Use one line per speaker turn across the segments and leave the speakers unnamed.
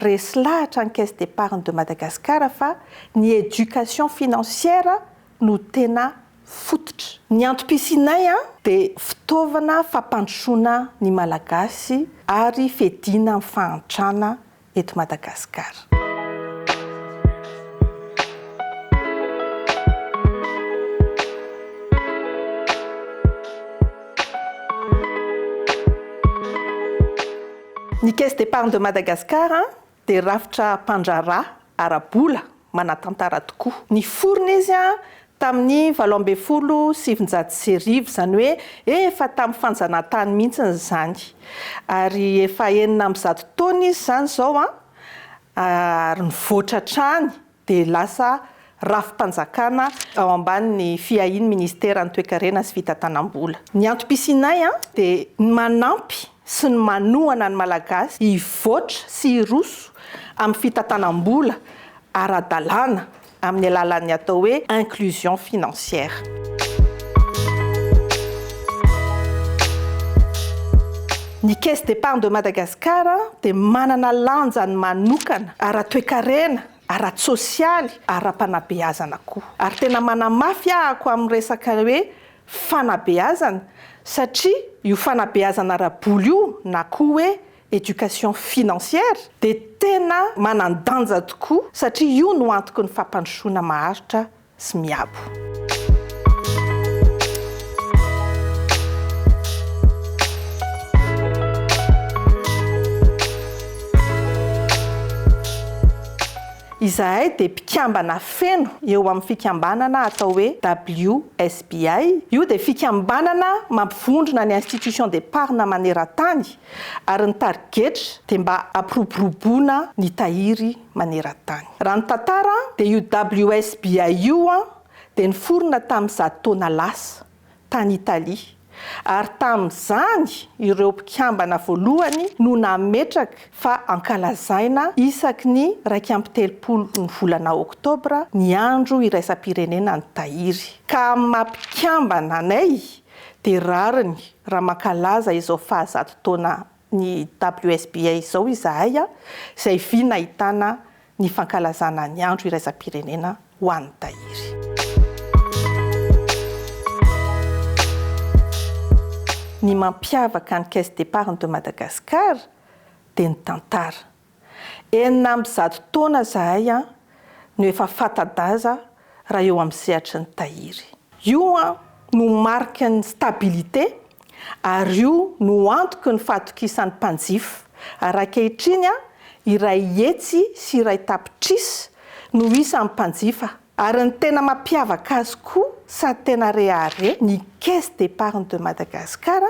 Resy lahatra ny Caisse d'Epargne de Madagascar fa ny éducation financière no tena fototra. Ny antom-pisianay dia fitaovana fampandrosoana ny Malagasy ary fediana amin'ny fahantrana eto Madagascar. Ny Caisse d'Epargne de Madagascar dia rafitra mpandraharaha ara-bola manatantara tokoa. Niforona izy tamin'ny valo ambin'ny folo sy sivinjato sy arivo, izany hoe efa tamin'ny fanjanahantany mihitsy izany. Ary efa enina amby zato taona izy izany izao, ary nivoatra hatrany. dia lasa rafi-panjakana ao ambanin'ny fiahian'ny Minisiteran'ny Toekarena sy Fitantanam-bola. Ny antom-pisianay dia ny manampy sy ny manohana ny Malagasy hivoatra sy hiroso amin'ny fitantanam-bola ara-dalàna amin'ny alalan'ny atao hoe inclusion financière. Ny Caisse d'Epargne de Madagascar dia manana lanjany manokana ara-toekarena, ara-tsosialy, ara-panabeazana koa. Ary tena manamafy ahako amin'ny resaka hoe fanabeazana satria io fanabeazana ara-bola io na koa hoe éducation financière dia tena manan-danja tokoa satria io no antoky ny fampandrosoana maharitra sy miabo. Izahay dia mpikambana feno eo amin'ny fikambanana atao hoe WSBI, io dia fikambanana mampivondrona ny institutions d'epargne maneran-tany ary ny tarigetra dia mba hampiroboroboana ny tahiry maneran-tany. Raha ny tantara dia io WSBI io dia niforona tamin'ny zato taona lasa, tany Italia, ary tamin'izany ireo mpikambana voalohany no nametraka fa hankalazaina isaky ny iraika amby telopolo ny volana oktobra ny andro iraisam-pirenena ny tahiry. Ka amin'ny maha mpikambana anay dia rariny raha mankalaza izao fahazato taona ny WSBA izao izahay izay vy nahitana ny fankalazana ny andro iraisam-pirenena ho an'ny tahiry. Ny mampiavaka ny Caisse d'Epargne de Madagascar dia ny tantara. Enina amby zato taona zahay an no efa fata-daza raha eo amin'ny sehatry ny tahiry. Io an no mariky ny stabilité ary io no antoky ny fahatokisan'ny mpanjifa ary ankehitriny an iray hetsy sy iray tapitrisa no isan'ny mpanjifa ary ny tena mampiavaka azy koa sady tena rehareha ny caisse d'épargne de Madagascar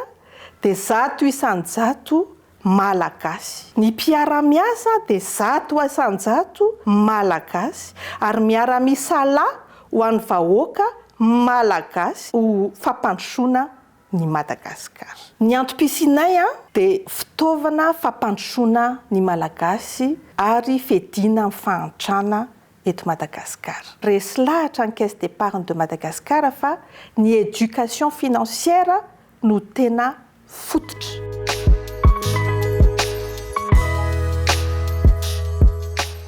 dia zato isan-jato Malagasy. Ny mpiara-miasa dia zato isan-jato Malagasy ary miara-misalahy ho an'ny vahoaka Malagasy ho fampandrosoana ny Madagasikara. Ny antom-pisianay dia fitaovana fampandrosoana ny Malagasy ary fediana amin'ny fahantrana eto Madagasikara. Resy lahatra ny Caisse d'Epargne de Madagascar fa ny éducation financière no tena fototra.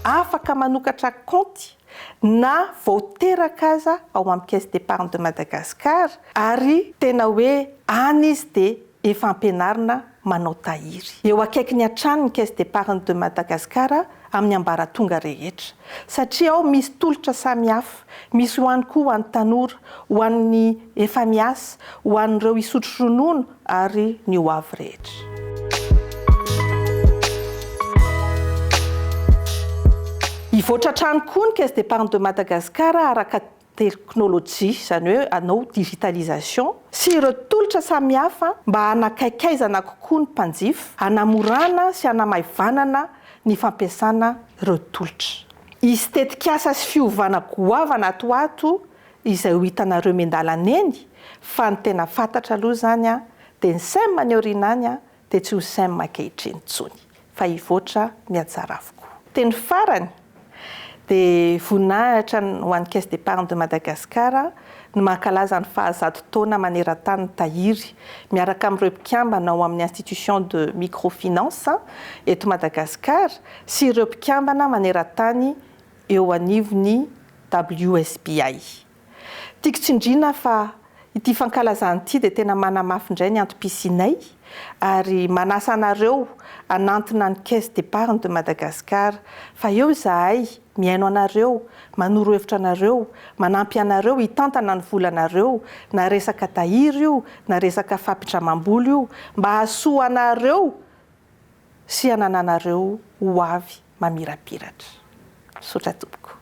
Afaka manokatra kaonty na vao teraka aza ao amin'ny Caisse d'Epargne de Madagascar ary tena hoe any izy dia efa ampianarina manao tahiry. Eo akaiky ny hatrany ny Caisse d'Epargne de Madagascar amin'ny ambaratonga rehetra, satria ao misy tolotra samihafa, misy ho any koa ho an'ny tanora, ho an'ny efa miasa, ho an'ireo hisotro ronono ary ny ho avy rehetra. Hivoatra hatrany koa ny Caisse d'Epargne de Madagascar araka. teknolojia, izany hoe hanao digitalisation, sy ireo tolotra samihafa mba hanakaikaizana kokoa ny mpanjifa, hanamorana sy hanamaivanana ny fampiasana ireo tolotra. Hisy tetikasa sy fiovana goavana ato ho ato izay ho hitanareo miandalana eny fa ny tena fantatra aloha izany dia ny sem any aoriana any dia tsy ho sem ankehitriny intsony fa hivoatra ny anjarako koa. Teny farany dia voninahitra ho an'ny Caisse d'Epargne de Madagascar ny mankalaza ny faha zato taona maneran-tany ny Tahiry miaraka amin'ireo mpikambana ao amin'ny Institution de Microfinance eto Madagasikara sy ireo mpikambana maneran-tany eo anivon'ny WSBI. Tiako tsindriana fa ity fankalazana ity dia tena manamafy indray ny antom-pisianay ary manasa anareo hanantona ny Caisse d'Epargne de Madagascar fa eo izahay mihaino anareo, manoro hevitra anareo, manampy anareo hitantana ny volanareo na resaka tahiry io na resaka fampindramam-bola io mba hahasoa anareo sy hanananareo ho avy mamirapiratra. Misaotra tompoko.